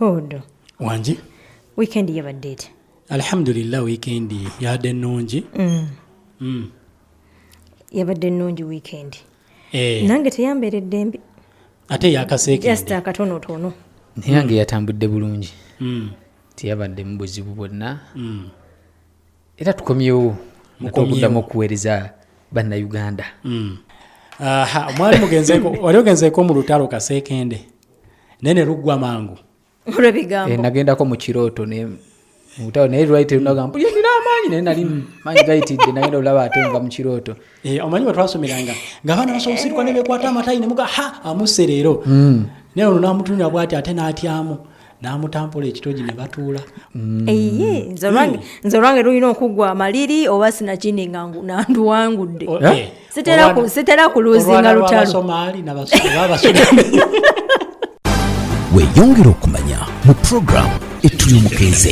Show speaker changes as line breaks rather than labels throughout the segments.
Hodo. Wanji.
Weekend
yabadde etya? Alhamdulillah
weekend yabadde nnungi. Mm. Mm.
Yabadde nnungi weekend. Eh. Nange teyambeeredde mbi. Ate yakaseekende.
Just akatonotono.
Naye yange
yatambudde bulungi. Mm. Teyabadde mu buzibu bwonna. Mm. Era tukomyewo. Mukomyewo. okuweereza bannayuganda. Mm.
Aha, mwali mugenzeeko, wali ogenzeeko mu lutalo kaseekende? naye ne luggwa mangu olwebigambo eh,
nagendako mu kirooto
mubutabo naye lwali terunaga mbu yenina amaanyi naye nali maanyi gayitidde nagenda olaba ate nva mu kirooto eh, omanyi bwetwasomeranga
nga abaana basobola osirikwa nebekwata amatayi nemuga ha amuse leero hmm. naye ono namutunira bwati ate n'atyamu n'amutampula ekitogi ne batuula mm. eye
nze olwange mm. lulina okuggwa amaliri oba sinakindi nga nanduwangudde oh, eh? eh. sitera kuluzinga lutalosomaali
weyongera okumanya mu puroguramu etuli omukeeze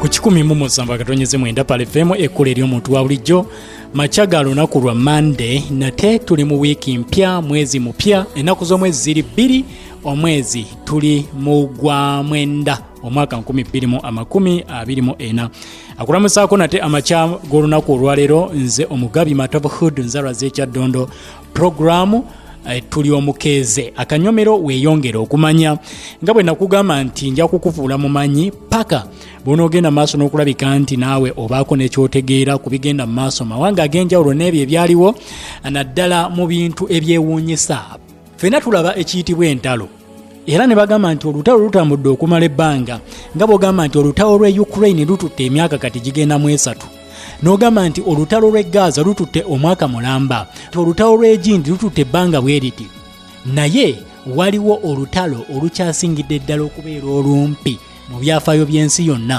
ku kikumi mu musanvu akatonyeze mwenda pale femu ekkula ery'omuntu wa bulijjo makya ga lunaku lwa mande nate tuli mu wiiki mpya mwezi mupya ennaku z'omwezi ziri bbiri omwezi tuli mu gwa mwenda omwaka 224 akulamusaako nate amakya g'olunaku olwaleero nze omugabi matob hood nzalwa z'ekyaddondo pulogulaamu eh, tuli omukeeze akanyomero weeyongere okumanya nga bwe nakugamba nti nja kukufuula mumanyi paka bwonoogenda maaso n'okulabika nti naawe obaako nekyotegeera ku bigenda mu maaso mawanga ag'enjawulo n'ebyo ebyaliwo naddala mu bintu ebyewuunyisa ffena tulaba ekiyitibwa entalo era ne bagamba nti olutalo lutambudde okumala ebbanga nga bwogamba nti olutalo lw'e ukraine lututte emyaka kati gigenda mu esatu n'ogamba nti olutalo lw'e gaza lututte omwaka mulamba ti olutalo lw'egindi lututte ebbanga bwe riti naye waliwo olutalo olukyasingidde ddala okubeera olumpi mu byafaayo by'ensi yonna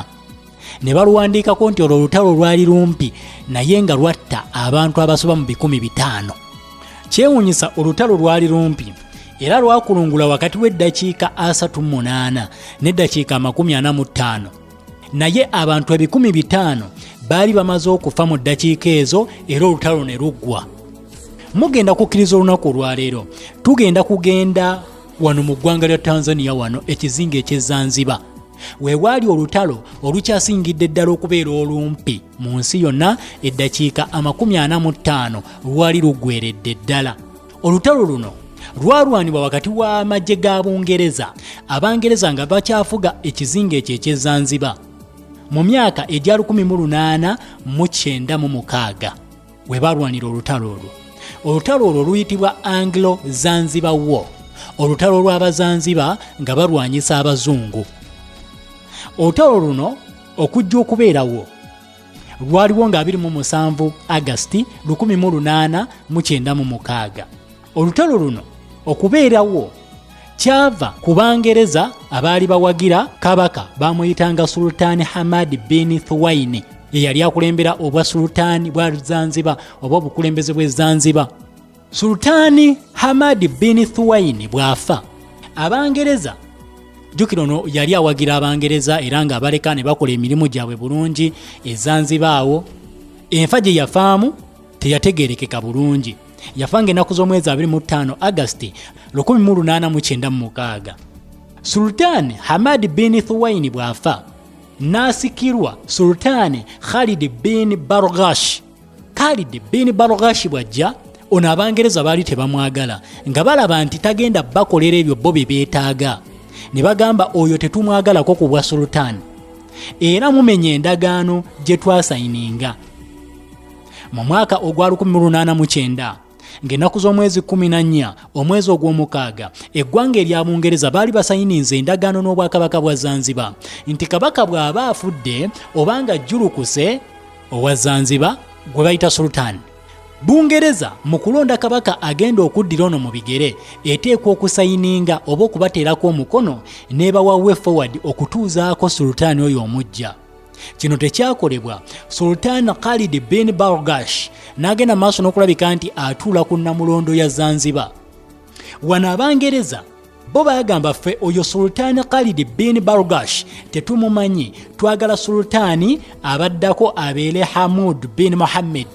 ne baluwandiikako nti olwo olutalo lwali lumpi naye nga lwatta abantu abasoba mu bikumi bitaano kyewunyisa olutalo lwali lumpi era lwakulungula wakati w'eddakiika asatu munaana n'eddakiika amakumi ana mu ttaano naye abantu ebikumi bitaano baali bamaze okufa mu ddakiika ezo era olutalo ne luggwa mugenda kukkiriza olunaku olwaleero tugenda kugenda wano mu ggwanga lya tanzania wano ekizinga ekyezanziba weewaali olutalo olukyasingidde ddala okubeera olumpi mu nsi yonna eddakiika amakumi ana mu ttaano lwali luggweredde ddala olutalo luno lwalwanibwa wakati w'amagye ga bungereza abangereza nga bakyafuga ekizinga ekyo ekyezanziba mu myaka egya 1896 we baalwanira olutalo olwo olutalo olwo luyitibwa anglo zanzibar war olutalo lw'abazanziba nga balwanyisa abazungu olutalo luno okujja okubeerawo lwaliwo nga 27 agasti 1896 olutalo luno okubeerawo kyava ku bangereza abaali bawagira kabaka bamuyitanga sultaani hamad bin thuwaini eyali akulembera obwa sultaani bwa zanziba oba obukulembeze bwe zanziba sultaani hamad bin thuwaini bw'afa abangereza jjukira ono yali awagira abangereza era ng'abaleka ne bakola emirimu gyabwe bulungi ezanzibaawo enfa gye yafaamu teyategeerekeka bulungi yafa ng'ennaku z'omwezi 25 agasti 1896 sultaani hamad bin thuwaini bw'afa n'asikirwa sultaani khalid bin bargash khalid bin bargash bw'ajja ono abangereza baali tebamwagala nga balaba nti tagenda bakolera ebyo bo bye beetaaga ne bagamba oyo tetumwagalako ku bwa sultaani era mumenya endagaano gye twasayininga mu mwaka ogwa 1809 ng'ennaku z'omwezi 14 omwezi ogw'omukaaga eggwanga erya bungereza baali basayininze endagaano n'obwakabaka bwa zanziba nti kabaka bw'aba afudde obanga jjulukuse owa zanziba gwe bayita sultani bungereza mu kulonda kabaka agenda okuddira ono mu bigere eteekwa okusayininga oba okubateerako omukono nebawa way forward okutuuzaako sultani oyo omujja kino tekyakolebwa sultan khalid bin bargash n'agenda maaso n'okulabika nti atuula ku namulondo ya zanzibar wano abangereza bo bagamba ffe oyo sultaani khalidi bin bargash tetumumanyi twagala sultaani abaddako abeere hamud bin muhammed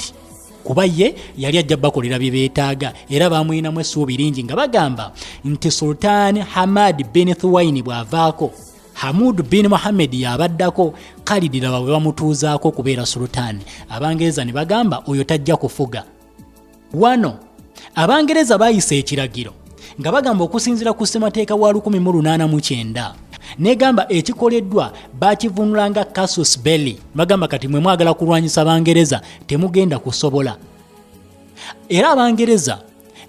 kuba ye yali ajja bakolera bye beetaaga era bamulinamu essuubi lingi nga bagamba nti sultaani hamad bin thuwaini bw'avaako Hamud bin Mohammed yabaddako Khalid laba bwe bamutuuzaako okubeera sultani Abangereza ne bagamba oyo tajja kufuga wano Abangereza bayisa ekiragiro nga bagamba okusinzira ku ssemateeka wa 1889 negamba ekikoleddwa bakivunulanga casus belli bagamba kati mwe mwagala kulwanyisa bangereza temugenda kusobola era abangereza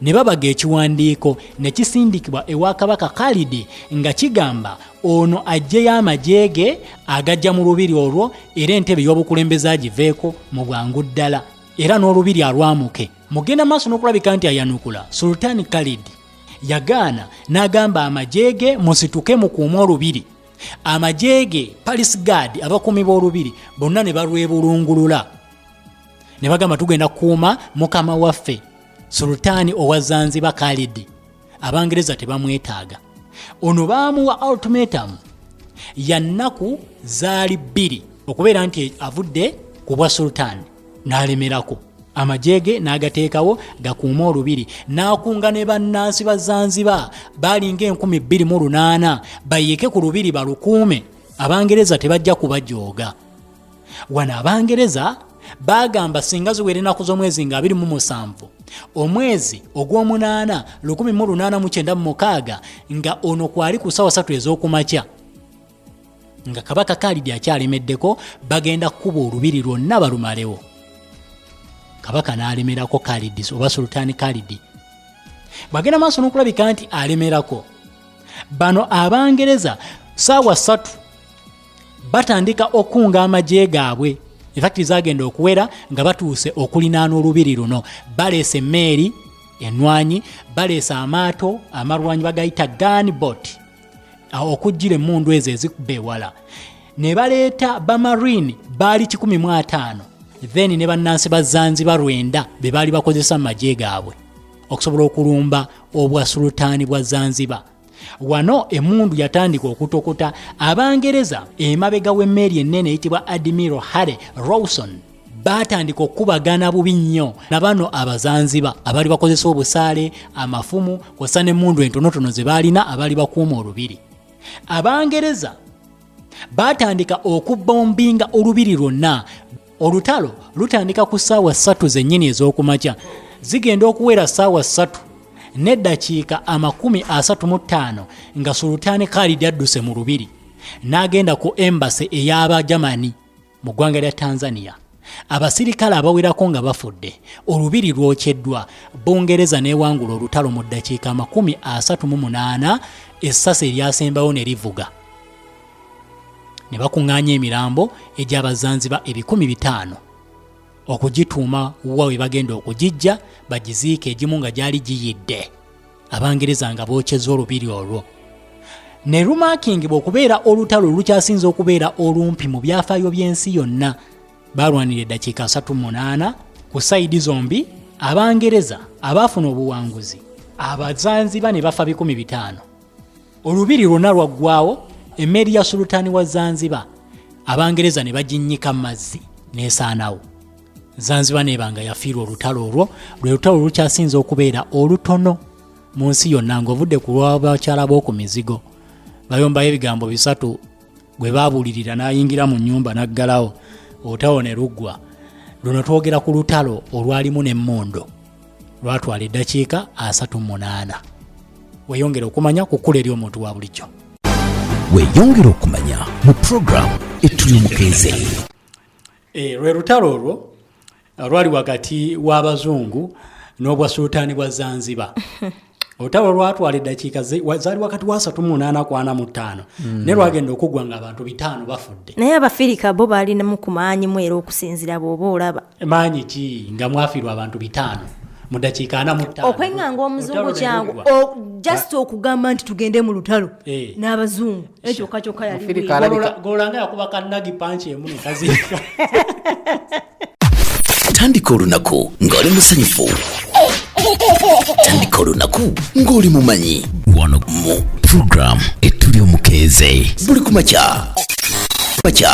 ne babaga ekiwandiiko ne kisindikibwa ewa kabaka Khalidi nga kigamba ono ajjeyo amagye ge agajja mu lubiri olwo era entebe y'obukulembeze agiveeko mu bwangu ddala era n'olubiri alwamuke mugenda maaso n'okulabika nti ayanukula sultani Khalidi yagaana n'agamba amagye ge musituke mukuume olubiri amagye ge palisgaadi abakuumi b'olubiri bonna ne balwebulungulula ne bagamba tugenda kukuuma mukama waffe sultaani owa zanziba kalidi abangereza tebamwetaaga ono baamuwa ultimatum ya nnaku zaali bbiri okubeera nti avudde ku bwa sultaani n'alemerako amagye ge n'agateekawo gakuuma olubiri n'akunga ne bannansi ba zanziba baalinga enkumi bbiri mu lunaana bayiike ku lubiri balukuume abangereza tebajja kubajooga wano abangereza baagamba singa ziwera ennaku z'omwezi nga 27 omwezi ogw'omunaana 1896 nga ono kwali ku sawa satu ez'okumakya nga kabaka kalidi akyalemeddeko bagenda kukuba olubiri lwonna balumalewo kabaka n'alemerako kalidi oba sultani kalidi bwagenda maaso n'okulabika nti alemerako bano abangereza saawa satu batandika okukunga amagye gaabwe efakiti zagenda okuwera nga batuuse okulinaana olubiri luno baleesa emmeeri enwanyi baleesa amaato amalwanyi bagayita ganbot okujjira emundu ezo ezikuba ewala ne baleeta bamarine baali 15 then ne bannansi ba zanzibar lwenda be baali bakozesa mu magye gaabwe okusobola okulumba obwa sulutaani bwa zanzibar wano emundu yatandika okutokota abangereza emabega w'emmeeri ennene eyitibwa admiral harry rawson baatandika okukubagana bubi nnyo na bano abazanziba abaali bakozesa obusaale amafumu kwassa n'emmundu entonotono ze baalina abaali bakuuma olubiri abangereza baatandika okubombinga olubiri lwonna olutalo lutandika ku ssaawa ssatu zennyini ez'okumakya zigenda okuwera ssaawa ssatu n'eddakiika amakumi asatu mu ttaano nga sulutaani khalidi adduse mu lubiri n'agenda ku embase ey'abajamani mu ggwanga lya tanzania abasirikale abawerako nga bafudde olubiri lwokyeddwa bungereza newangula olutalo mu ddakiika amakumi 38 essasi eryasembawo ne livuga ne bakuŋŋaanya emirambo egyabazanziba ebikumi bitaano okugituuma wa we bagenda okugijja bagiziika egimu nga gyali giyidde abangereza nga bookyeza olubiri olwo ne lumaakingibwa okubeera olutalo olukyasinza okubeera olumpi mu byafaayo by'ensi yonna baalwanira eddakiika 38 ku sayidi zombi abangereza abaafuna obuwanguzi abazanziba ne bafa 15 olubiri lwonna lwaggwawo emmeeri ya sulutaani wa zanziba abangereza ne baginnyika mu mazzi n'esaanawo zanzibar nebanga yafiirwa olutalo olwo lwe lutalo olukyasinze okubeera olutono mu nsi yonna ng'ovudde ku lwabakyala b'oku mizigo bayombayo ebigambo bisatu gwe baabulirira n'ayingira mu nnyumba n'aggalawo olutawo ne luggwa luno twogera ku lutalo olwalimu n'emmundu lwatwala eddakiika asatu mu munaana weyongera okumanya ku kkula eri omuntu wa bulijjo weyongera
okumanya mu puroguramu etuli omukeeze
Eh, lwe lutalo olwo eh, lwali wakati w'abazungu n'obwasuutaani bwa zanzibar olutalo lwatwala eddakiika zaali wakati wasatu munaana kwana mu ttaano mm. naye lwagenda okuggwa nga abantu bitaano bafudde naye abafirika bo
baalinamu ku maanyi mu era okusinzira bwoba olaba maanyi ki
nga mwafirwa abantu bitaano mu dakiika ana muttaano okwenganga omuzungu
kyangu just okugamba nti tugende mu lutalo eh. n'abazungu ekyokka kyokka yaligololanga yakuba
kanagi panki emu nekaziika
tandika olunaku ng'oli musanyufu tandika olunaku ng'oli mumanyi wano mu puroguramu etuli omukeeze buli kumakya makya